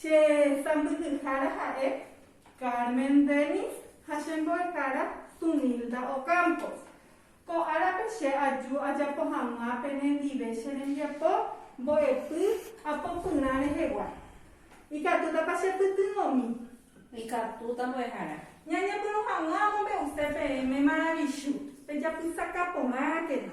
Che sãmbyhyhára ha'e Carmen Dennis ha che mbo'ehára Tunilda Ocampo. Ko árape che aju ajapo hag̃ua penendive che rembiapo mbo'epy apopyrã rehegua. Ikatútapa che pytyvõmi? Ikatúta mbo'ehára. Ñañepyrũ hag̃ua amombe'use peẽme maravichu, pejapysaka porãkena.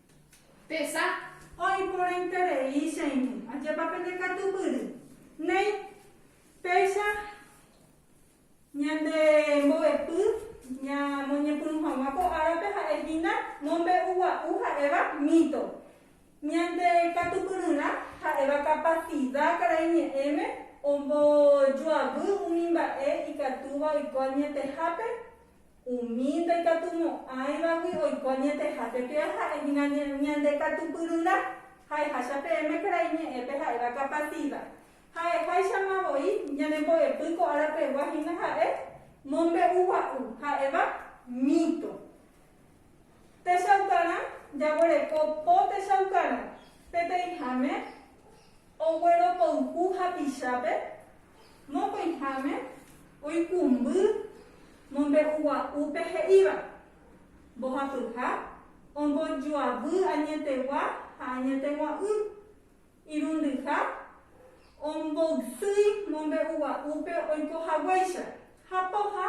Tesa. Oĩporãiterei che irũ. Ajépa pende katupyry. Néi. Péicha ñande mbo'epy ñamoñepyrũ hag̃ua ko árape ha'e hína mombe'ugua'u ha'éva mito. Ñande katupyryrã ha'éva kapasida karai ñe'ẽme ombojoavy umi mba'e ikatúva oiko añetehápe Umi ndaikatumo'ãivagui oiko añetehápe péva ha'e hína ñande katupyryrã ha'eháicha peẽme karai ñe'ẽpe ha'éva kapatíva. Ha'eháichama voi ñanembo'epy ko ára pegua hína ha'e mombe'ugua'u, ha'éva mito. Techaukarã jaguereko po techaukarã, peteĩháme ogueropoyhu hapichápe Mokõiháme oikũmby mombe'ugua'úpe he'íva, Mbohapyha ombojoavy añetegua ha añetegua'ỹ, irundyha omboysýi mombe'ugua'úpe oiko haguéicha, ha pohã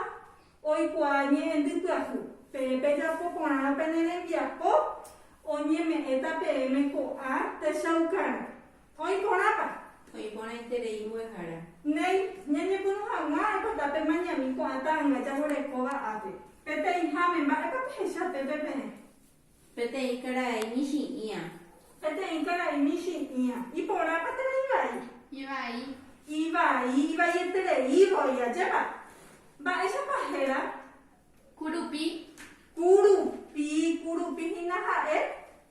oikuaa ñe'ẽndy pyahu. Pe pejapo porã pene rembiapo oñeme'ẽta peẽme ko'ã techaukarã. Oĩ porãpa? Oĩ porãiterei mbo'ehára. Néi, ñañepyrũ hag̃ua aipo tape mañami ko'ã ta'ãnga jaguerekóva ápe. Peteĩháme, mba'épa pehecha pépe peẽ? Peteĩ karai michĩ'ĩa. Peteĩ karai michĩ'ĩa. Iporãpa térã ivai? Ivai. Ivai, ivaieterei voi. Ajépa? Mba'éichapa héra? Kurupi. Kurupi, kurupi hína ha'e.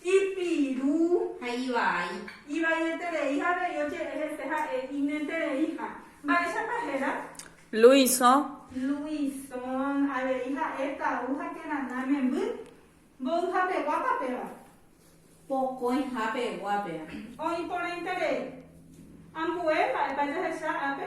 Ipiru ha ivai. Ivaieterei ha avei oje'e hese ha'e iñetereiha. Mba'éichapa héra? Luison. Luison. Avei ha'e tau ha térãna memby. Mboyhapeguápa péva. Pokõihápegua péva. Oĩporãiterei. Ambue, mba'épa jahecha ápe?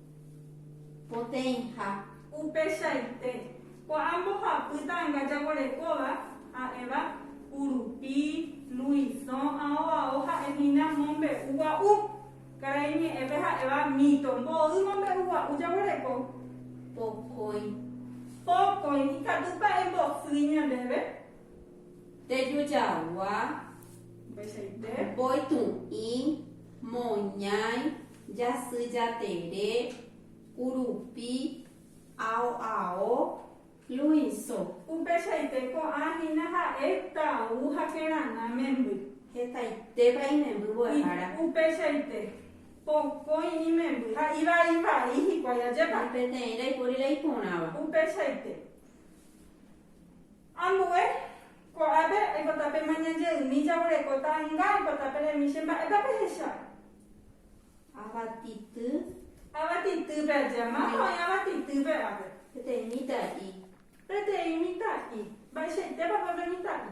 Poteĩha. Upeichaite, ko'ã mbohapy ta'anga jaguerekóva, ha'éva, Kurupi, Luisõ, ao ao ha'e hína mombe'u gua'u. Karai ñe'ẽpe ha'éva mito, mboy mombe'u gua'u jaguereko. Pokõi. Pokõi. Ikatúpa embosýi ñandéve? Tejujagua, mbechaite, mboytu'ĩ, moñãi, jasy jatere, kurupi, ao ao, luĩso. Upeichaite ko'ã hína ha'e tau ha kerana memby. Hetaitépa imemby mbo'ehára. Upeichaite, pokõi imemby ha ivai vai hikuái ajépa. Ni peteĩ ndaipóri la iporãva. Upeichaite. Ambue, ko'ápe aikota pe mañanje'ymi jaguereko ta'ãnga aikota pe remi che mba'épa pehecha. Avati'ty. Avati'týpe aja, máva oĩ avati'týpe ápe. Peteĩ mitã'i. Peteĩ mitã'i. Mba'eichaitépa pe pe mitã'i.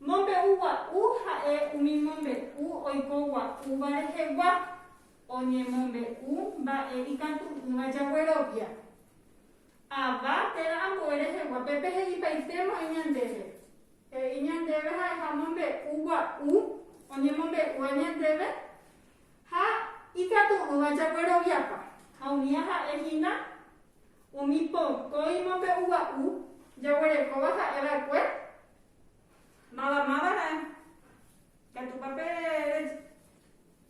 Mombe'u gua'u ha'e umi mombe'u oiko gua'úva rehegua, oñemombe'u mba'e ikatu'ỹva jaguerovia. Ava térã ambue rehegua pe pehe'ipaitémo'ãi ñandéve. He'i ñandéve ha'eha mombe'u gua'u oñemombe'úva ñandéve ha ikatu'ỹva jagueroviapa, ha umíva ha'e hína Umi pokõi mombe'uva'u jaguerekóva ha'e va'ekue, máva máva ha'e. Ikatúpa pe.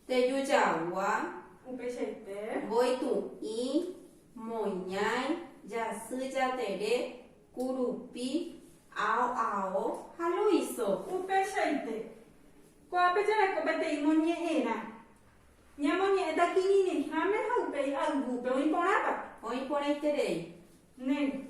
Teju jagua. Upeichaite. Mboytu'i, moñái, jasy jatere, kurupi, ao ao ha loiso. Upeichaite. Ko'ápe jareko peteĩ moñe'ẽrã. Ñamoñe'ẽta kirirĩháme ha upéi ayvúpe. Oĩ porãpa? Oĩ porãiterei. Néne.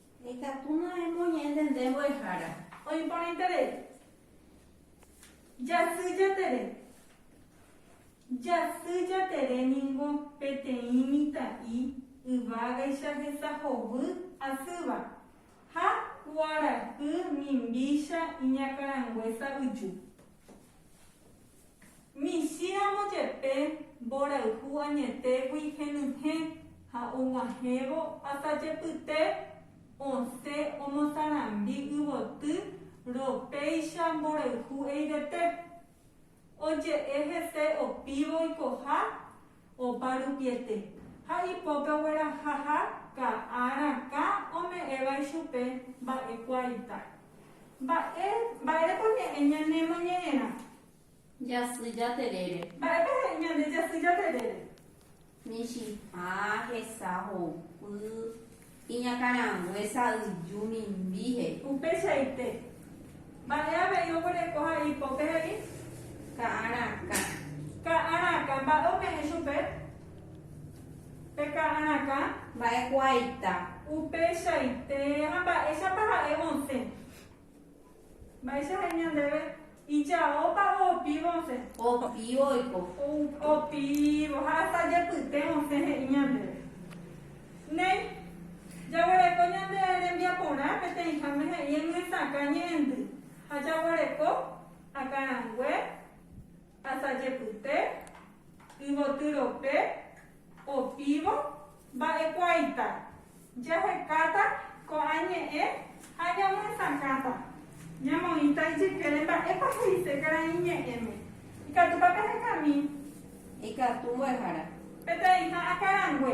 Ikatu noẽ moñe'ẽnte nde mbo'ehára. Oĩporãiterei. Jasy Jatere. Jasy Jatere ningo peteĩ mitã'i yvágaicha hesahovy asýva ha kuarahy mimbícha iñakãrangue sa'yju. Michĩramo jepe mborayhu añetégui henyhẽ ha og̃uahẽvo asajepyte osẽ omosarambi yvoty ropéicha mborayhu eivete. Oje'e hese opívo oikoha Opa rupiete, ha ipópe ogueraha ha ka'a rakã ome'ẽva ichupe mba'ekua ita. Mba'e, mba'érepa ñe'ẽ ñane moñe'ẽrã? Jasy jaterére. Mba'épa he'i ñande jasy jaterére? Michĩha hesa ho'upy Iñakãrangue sa'yju mimbi he'i. Upeichaite. Mba'e avei oguereko ha ipópe he'i. Ka'a rakã. Ka'a rakã. Mba'e ome'ẽ chupe? Pe ka'a rakã. Mba'e kuaita. Upeichaite. Ha mba'éichapa ha'e osẽ. Mba'éicha he'i ñandéve, ijaópavo opívo osẽ. Opívo oiko. Opívo ha hasta jepyte osẽ he'i ñandéve. Néi, jaguereko ñande rembiaporã peteĩháme he'i emyesakã ñe'ẽndy ha jaguereko akarangue, Asajepyte, yvoty rope, opívo, mba'ekuaaita. Jahekáta ko'ã ñe'ẽ ha ñamoesakãta. Ñamoĩta ijykére mba'épa he'ise karai ñe'ẽme. Ikatúpa pehekami. Ikatu mbo'ehára. Peteĩha akarangue.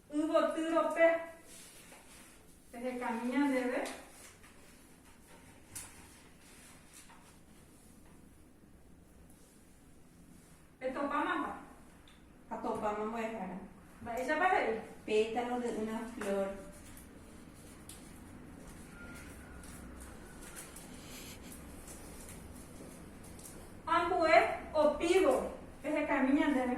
Yvotyrope pehekami ñandéve petopámapa. Atopáma mbo'ehára. Mba'éichapa he'i? Pétalo de una flor. Ambue opívo pehekami ñandéve.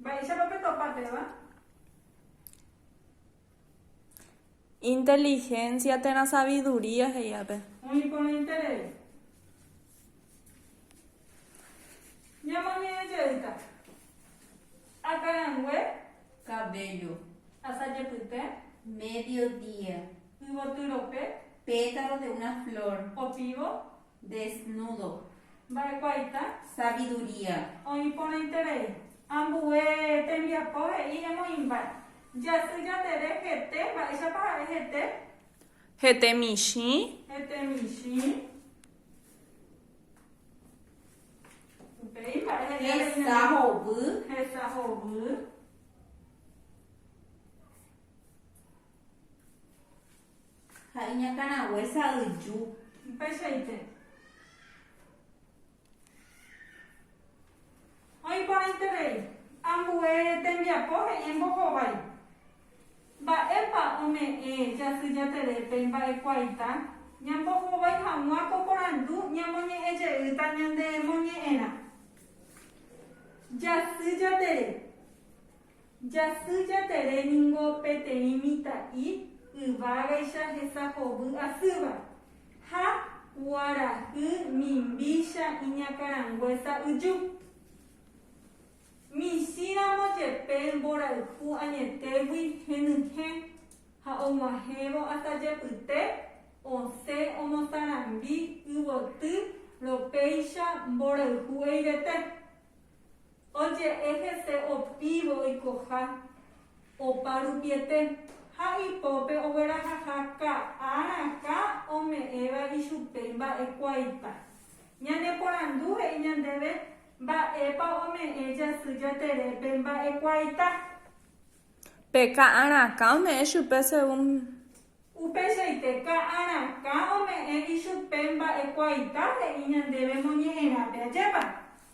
Mba'éichapa petopa péva? Inteligencia térã sabiduría he'i ápe. Oĩ porã interés. Ñamoñe'ẽ jeýta. Akarangue. Cabello. Asa jepyte. Mediodía. Yvoty rope. Pétalos de una flor. Opívo. Desnudo. Mba'ekuaita? Sabiduría. Oĩ porãiterei. Ambue tembiapo he'i emoĩmba'e. Jasy jatere hete. Mba'éichapa ha'e hete? Hete michĩ. Hete michĩ. Upéi mba'e he'i areína. Hesa hovy. Hesa hovy. Ha iñakãrague sa'yju. Upeichaite. Oĩporãiterei. Ambue tembiapo he'i embohovái. Mba'épa ome'ẽ Jasy Jaterépe mba'ekuaita? Ñambohovái hag̃ua ko porandu ñamoñe'ẽ jeýta ñanemoñe'ẽrã. Jasy Jatere. Jasy Jatere ningo peteĩ mitã'i yvágaicha hesahovy asýva, ha kuarahy mimbícha iñakãrangue sa'yju. Michĩramo jepe mborayhu añetégui henyhẽ ha og̃uahẽvo asajepyte osẽ omosarambi yvoty ropéicha mborayhu eivete. Oje'e hese opívo oikoha opa rupiete ha ipópe oguerahaha ka'a rakã ome'ẽva ichupe imba'ekuaaita. Ñaneporandu he'i ñandéve mba'épa ome'ẽ jasy jaterépe mba'ekuaaita. Pe ka'a rakã ome'ẽ chupe según. Upeichaite ka'a rakã ome'ẽ ichupe mba'ekuaaita he'i ñandéve moñe'ẽrápe ajépa.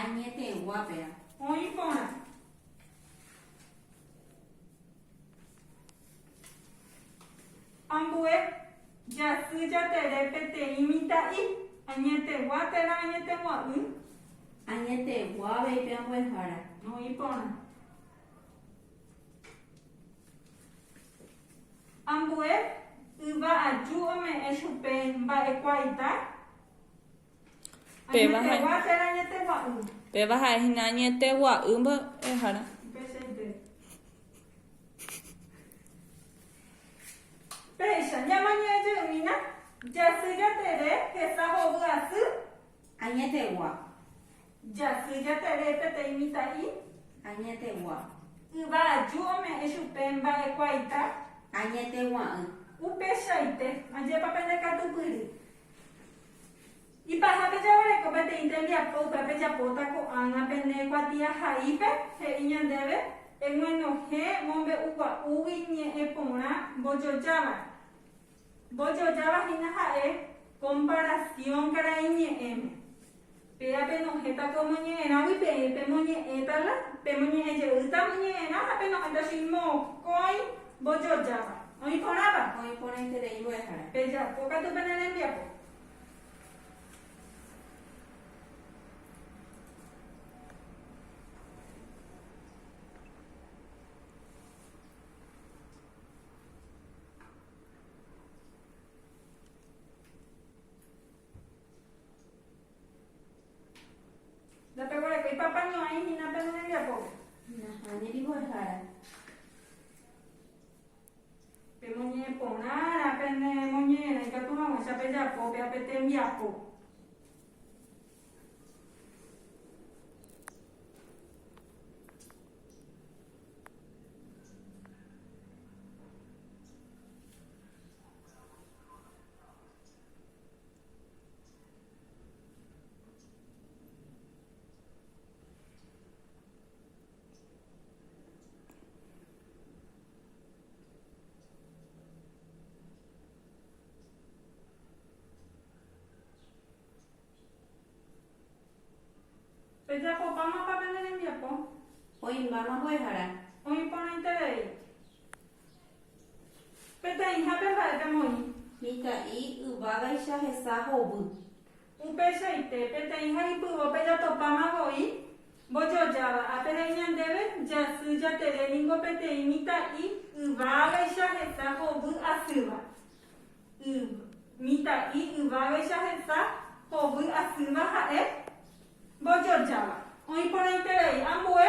Añetegua péa. Oĩ porã. Ambue jasy jatere peteĩ mitã'i. Añetegua térã añetegua'ỹ. Añetegua avei pe ambuehára. Oĩ porã. Ambue yva aju ome'ẽ chupe mba'ekuaita. Péva ha'e. Añetegua térã añetegua'ỹ. Péva ha'e hína añetegua'ỹ mbo'ehára. Upéichaite. Péicha, ñamañuẽ jeýna, jasy jatere hesa hovy asy. Añetegua. Jasy jatere peteĩ mitã'i. Añetegua. Yva aju ome'ẽ chupe mba'ekuaaita. Añetegua'ỹ. Upéichaite. Ajépa pende katupyry. Ipahápe jaguereko peteĩ tembiapo upe pejapóta ko'ág̃a pene kuatiahaípe, he'i ñandéve, Eguenohẽ mombe'ugua'úgui ñe'ẽ porã mbojojávare. Mbojojáva hína ha'e komparasiõ karaiñe'ẽme. Péva penohẽta ko moñe'ẽrágui peẽ pemoñe'ẽta la, pemoñe'ẽ jeýta moñe'ẽrã ha penohẽta chin mokõi mbojojáva. Oĩ porãpa? Oĩ porãiterei mbo'ehára. Pejapo katu pene rembiapo. Ndapeguereko ipapa ño'ãi hína pene rembiapópe. Nahániri mbo'ehára. Pemoñe'ẽ porãrã pene moñe'ẽrã ikatu hag̃uáicha pejapo pe ape tembiapo. Pejapopámapa pende rembiapo. Oĩmbáma mbo'ehára. Oĩporãiterei. Peteĩha pe mba'e pemoĩ. Mitã'i yvágaicha hesa hovy. Upeichaite, peteĩha ipyvo pejatopáma voi mbojojáva. Ápe he'i ñandéve, Jasy jatere ningo peteĩ mitã'i yvágaicha hesa hovy asýva. Y, mitã'i yvágaicha hesa hovy asýva ha'e mbojojáva. Oĩ porãiterei ambue.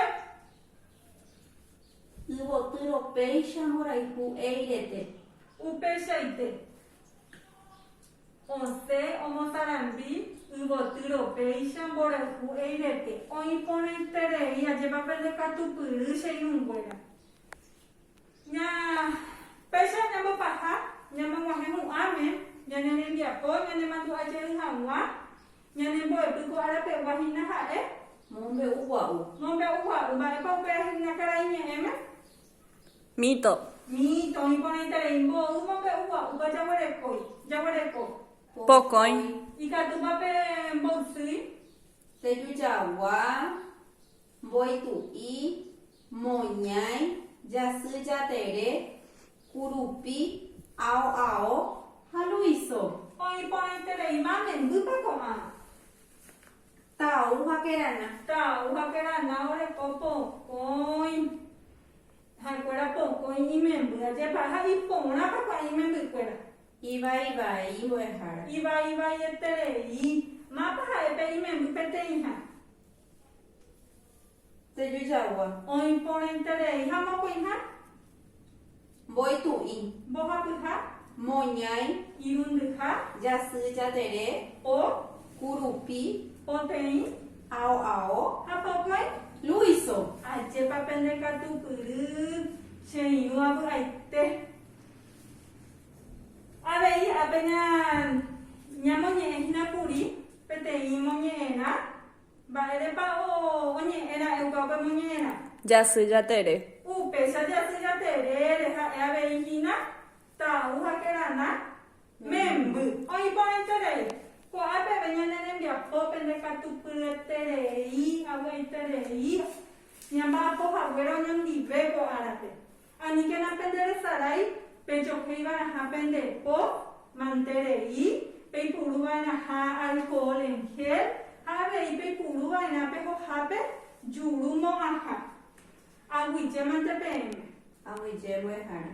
Yvotyro péicha mborayhu éirete. Upeichaite, osẽ omosarambi yvotyro péicha mborayhu éirete. Oĩ porãiterei, ajépa pende katupyry, che irũnguéra. Ña, péicha ñambopaha, ñamoguahẽ hu'ãme, ñane rembiapo, ñanemandu'a jey haguã, Ñane mbo'epy ko ára pegua hína ha'e. Mombe'u gua'u. Mombe'u gua'u. Mba'épa upéva hína karai ñe'ẽme? Mito. Mito. Iporãiterei mbo'y mombe'u gua'úpa jaguerekói. Jaguereko. Pokõi. Ikatúpa pe mboysýi? Tejujagua, mboitu'i, moñái, jasy jatere, Kurupi, ao ao ha Luiso. Oĩ porãiterei mame, mbýpa ko'ã. Tau ha kerana. Tau ha kerana oreko pokõi ha'ekuéra pokõi imemby ajépa ha iporãpa ko'ã imembykuéra. Ivai vai mbo'ehára. Ivai vaieterei. Mápa ha'e pe imemby peteĩha. Sello jagua. Oĩporãiterei ha mokõiha. Mboytu'i. Mbohapyha. Moñái. Irundyha. Jasy, jatere. O. Kurupi. Poteĩ. Ao, ao. Ha pokõi. Luiso. Ajépa pende katupyry, che irũ avy'aite. Avei apena ñamoñe'ẽ hína kuri peteĩ moñe'ẽrã, mba'érepa oñe'ẽ ra'éuka upe moñe'ẽrã? Jasy Jatere. Upéicha Jasy Jaterére ha'e avei hína Tau ha Kerana memby. Oĩ porãiterei, ko'ã peve ñane rembiapópe ndekatupyieterei avy'aiterei ñamba'apo haguére oñondive ko árape. Aníkena penderesarái pejohéi va'erãha pende po mante rei, peipuru va'erãha alkohol en gel ha avei peipuru va'erã pe hohápe juru mo'ãha. Aguyjémante peẽme. Aguyje mbo'ehára.